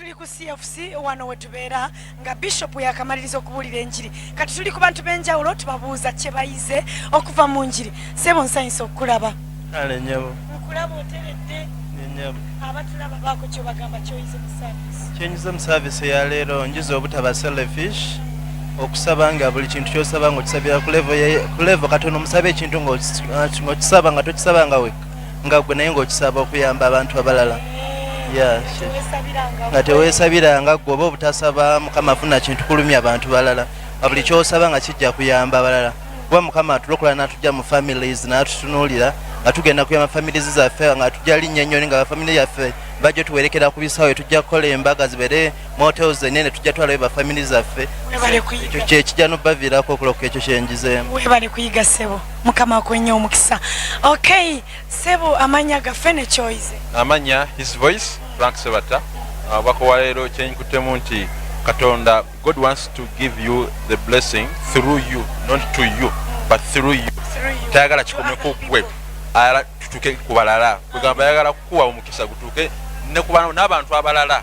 tuli ku cfc wano wetubeera nga bishop yakamaliriza okubuulira enjiri kati tuli ku bantu benjawulo tubabuuza kyebayize okuva mu njiri sebo nsanyisa okukulaba nkulaba oteredde abatulaba baako kyobagamba kyoyize mu service kyenyize mu service eyaleero njiza obutaba selfish okusaba nga buli kintu kyosaba nga okisabira ku levo katono omusaba ekintu ngaokisaba nga tokisaba nga weka nga gwe naye ngaokisaba okuyamba abantu abalala nga tewesabiranga gwe oba obutasaba mukama funa kintu kulumya abantu balala nga buli kyosaba nga kijja kuyamba abalala kuba mukama atulokola natujja mu families natutunulira nga tugenda kuyamba families zaffe nga tujja linnya ennyoni nga bafamily yaffe bajjo tuwerekera ku bisawe tujja kukola embaga zibere motels enene tujja twalayo ba family zaffe ekyo kyekijja nobaviirako okuloka ekyo kyenjizeemu webale kuyiga sebo mukama akuwenye omukisa okay sebo amanya gaffe nekyoyize amanya his voice frank sebata abako uh, waleero kyenyikutemu nti katonda god wants to give you the blessing through you not to you but through you tayagala kikome kugwe ayala tutuke kubalala kugamba ayagala kukuwa omukisa gutuke n'abantu abalala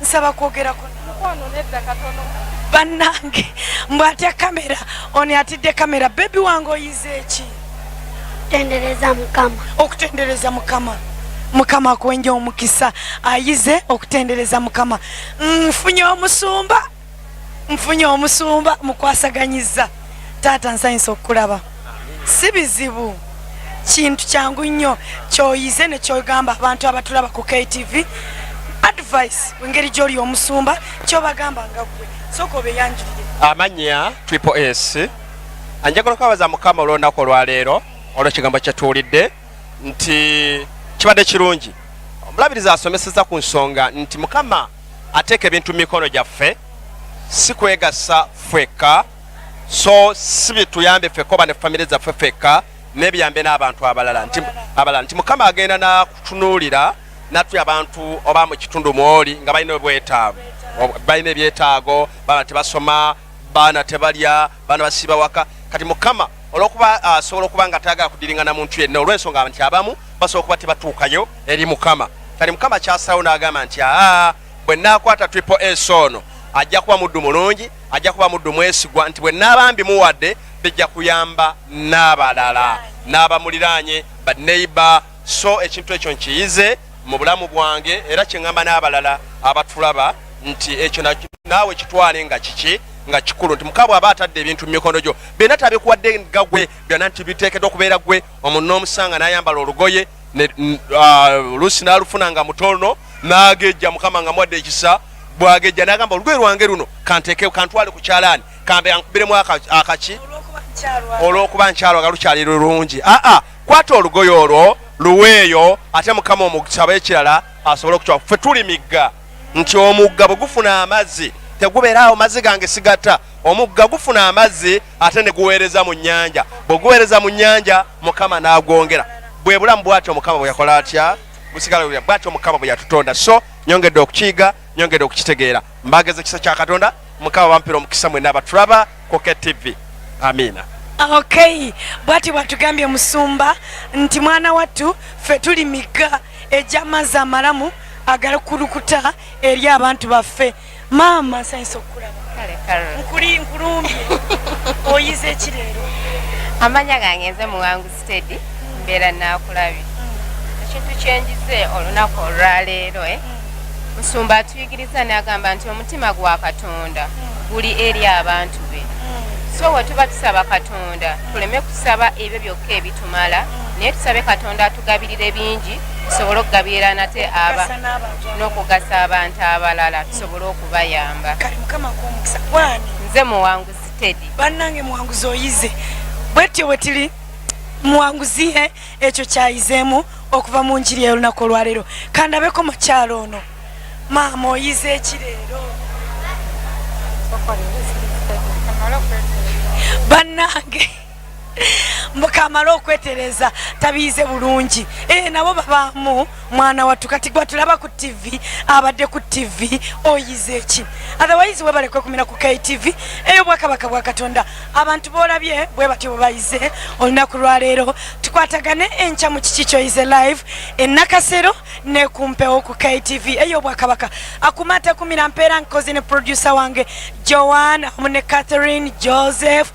nsaba kwogerako mukwano nedda katono bannange mbu atya kamera oni atidde kamera bebi wange oyize eki tendereza mukama okutendereza mukama mukama akuwenja omukisa ayize okutendereza mukama nfunye omusumba nfunye omusumba mukwasaganyiza taata nsanyusa okukulaba si bizibu kintu kyangu nnyo kyoyize nekyogamba abantu abatulaba ku ktv advice engeri gyoli omusumba kyobagamba nga gwe soka obeyanjulire amanya triple s anjagala okwabaza mukama olwonaku olwaleero olwekigambo kyetuwulidde nti kibadde kirungi omulabiriza asomeseza ku nsonga nti mukama ateeka ebintu mu mikono gyaffe si kwegasa ffekka so si bituyambe ffekka oba ne famire zaffe ffekka nebiyambe n'abantu abalala nti abalala nti mukama agenda nakutunuulira natu abantu oba mu kitundu mwoli nga balina obwetaavu balina ebyetaago baba tebasoma baana tebalya bano basiiba waka kati mukama olwokuba ah, asobola uh, okuba nga tayagala kudiringana muntu yenna olwensonga nti abamu basobola okuba tebatuukayo eri mukama kati mukama kyasalawo n'agamba nti aa bwe naakwata triple s ono ajja kuba muddu mulungi ajja kuba muddu mwesigwa nti bwe naaba mbimuwadde bijja kuyamba n'abalala n'abamuliraanye baneiba so ekintu ekyo nkiyize mu bulamu bwange era kyeŋamba n'abalala abatulaba nti ekyo naawe kitwale nga kiki nga kikulu nti mukabwe aba atadde ebintu mu mikono gyo byonna tabikuwadde nga gwe byonna nti biteekedwa okubeera gwe omuntu n'omusanga n'ayambala olugoye oluusi n'alufuna nga mutono n'agejja mukama nga muwadde ekisa bwagejja n'agamba olugoye lwange luno kanteeke kantwale ku kyalaani kambe ankubiremu akaki olw'okuba nkyalwa nga lukyali lulungi aa kwata olugoye olwo luweeyo ate mukama omugisaba ekirala asobole okukyawa ffe tuli migga nti omugga bwe gufuna amazzi tegubeeraawo mazzi gange sigata omugga gufuna amazzi ate ne guweereza mu nnyanja bwe guweereza mu nnyanja mukama n'agwongera bwe bulamu bwatyo mukama bwe yakola atya busigala bwatyo mukama bwe yatutonda so nyongedde okukiyiga nyongedde okukitegeera mbageza ekisa kya katonda mukama bampira omukisa mwena abatulaba koke tv amiina ok bwati bwatugambye musumba nti mwana wattu ffe tuli migga ejamazi amalamu agalukulukuta eri abantu baffe maama nsanyisa okukulaba nkulumbye oyize ekireero amanya gange nze muwanguzi steady mbeera naakulabye ekintu kyenjize olunaku olwaleero eh? musumba atuyigiriza nagamba nti omutima gwa katonda guli eri abantu be so wetuba tusaba katonda tuleme kusaba ebyo byokka ebitumala naye tusabe katonda atugabirire bingi tusobole okugabirira nate aba n'okugasa abantu abalala tusobole okubayamba nze muwangu Teddy. Banange muwanguzi oyize bwetyo bwetili muwanguzi eh, ekyo kyayizemu okuva mu njiri ey'olunaku olwaleero kandabeko mukyalo ono maama oyize ekireero banange mbukamale okwetereza tabiize bulungi ee eh, nabo babaamu mwana wattu kati gwatulaba ku ttivi abadde ku ttivi oyize eki otherwise webale kwekumira ku ktv eyo bwakabaka bwa katonda abantu boolabye bwe batyo bwe bayize olunaku lwaleero tukwatagane enkya mu kiki kyoyize live enakasero nekumpewo ku ktv eyo bwakabaka akumata kumira mpeera nkozi ne producer wange joan amu ne catherine joseph